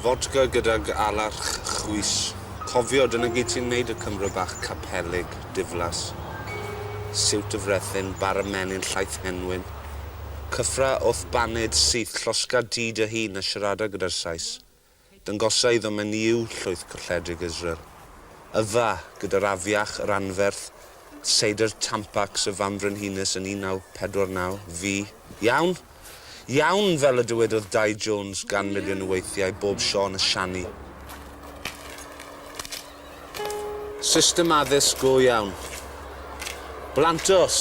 Fodca gydag alarch chwys. Cofio, dyna gyd sy'n wneud y Cymro bach capelig, diflas. Siwt y frethyn, bara menyn llaith henwyn. Cyffra wrth baned syth, llosga di dy hun a siarada gyda'r Sais. Dyngosa iddo menyw llwyth colledig Israel. Yfa, gyda'r afiach, yr anferth, seidr Tampax y Fambrenhines yn 1949, fu, iawn! Iawn! fel y dywedodd Dai Jones gan miliwn o weithiau bob Siôn y Siani. System addysg go iawn. Blantos!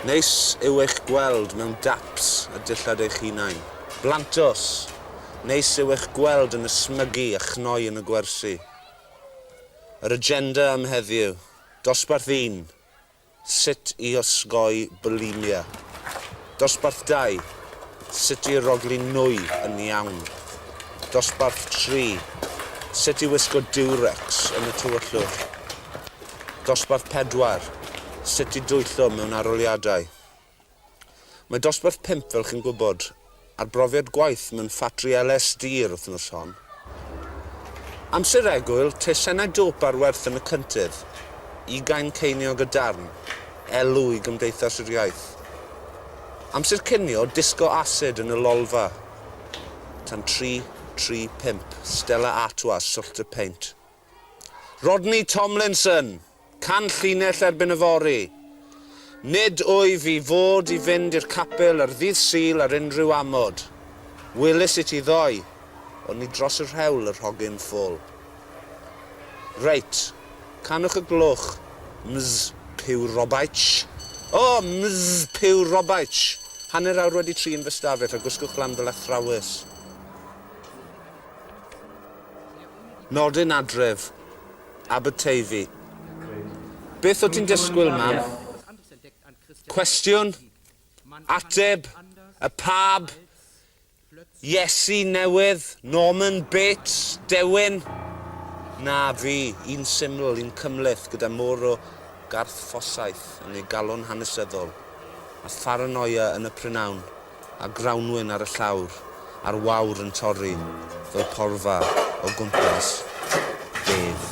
Neis yw eich gweld mewn daps a dillad eich hunain. Blantos! Neis yw eich gweld yn ysmygu a chnoi yn y gwersi. Yr agenda am heddiw. Dosbarth un. Sut i osgoi bwlimia. Dosbarth dau, Sut i rogli nwy yn iawn. Dosbarth tri, Sut i wisgo diwrecs yn y tywyllwch. Dosbarth pedwar, Sut i dwyllo mewn arholiadau. Mae dosbarth pump, fel chi'n gwybod, ar brofiad gwaith mewn ffatri LSD yr wythnos hon. Amser egwyl, tesennau dop ar werth yn y cyntydd, ugain ceiniog y darn, elw i Gymdeithas yr Iaith. Amser cinio, disgo asid yn y lolfa, tan tri, tri, pump, Stella Artois, Swllt y Peint. Rodney Tomlinson, canllinell erbyn yfory. Nid wyf i fod i fynd i'r capel ar ddydd Sul ar unrhyw amod. Welis i ti ddoe, ond ni dros y rhewl yr hogyn ffwl. Reit, canwch y gloch, Ms Pugh Robaich. O! Ms Pugh Robaich! Hanner awr wedi tri yn fy stafell a gwisgwch lan fel athrawes. Nodyn adref, Aberteifi. Beth o ti'n disgwyl, mam? Cwestiwn, ateb, y pab, Iesu newydd, Norman Bates, dewin? Na, fi, un syml, un cymhleth, gyda môr o garthffosaeth yn ei galon hanesyddol, a pharanoia yn y prynhawn. a grawnwin ar y llawr a'r wawr yn torri fel porfa o gwmpas bedd.